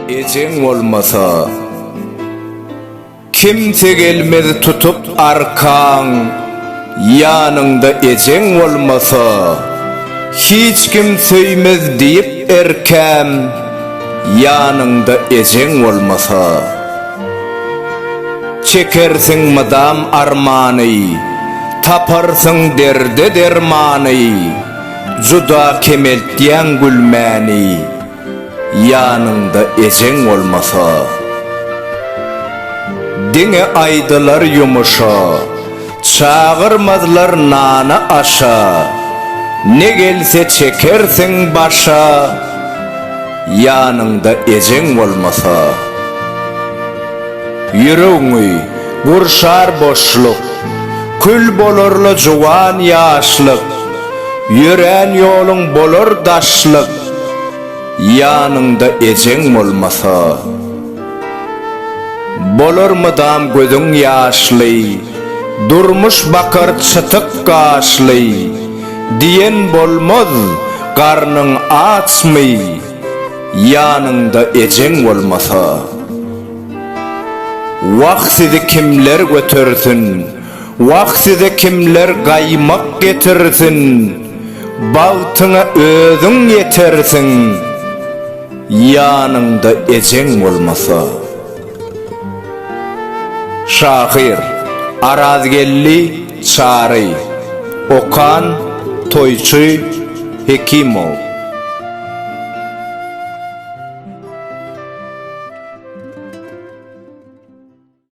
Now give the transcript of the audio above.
Ejeň bolmasa kimse gelmez tutup arkaň ýanyňda ejeň bolmasa hiç kim söýmez diýip erkäm ýanyňda ejeň bolmasa Çekersiň mydam armany, Taparsyň derde dermany, Juda kemeltýäň gülmäni, Ýanyňda ejeň bolmasa. Diňe aýdylar ýumuşa. Çagyrmazlar nana-aşa, Ne gelse çekersiň başa, Ýanyňda ejeň bolmasa. Ýüregiňi gurşar boşluk, Kül bolar-la juwan ýaşlyk, Ýörän ýoluň bolar daşlyk, Ýanyňda ejeň bolmasa. Bolar mydam gözüň ýaşly, Durmuş bakar çytyk gaşly, Diýen bolmaz, garnyň açmy, Ýanyňda ejeň bolmasa. Wah sizi kimler götersin, Wah size kimler gaýmak getirsin, Bagtyňa özüň ýetersiň. Ýanyňda ejeň bolmasa. Şahyr, Arazgeldi Çary. Okan, Toýçy Hekimow.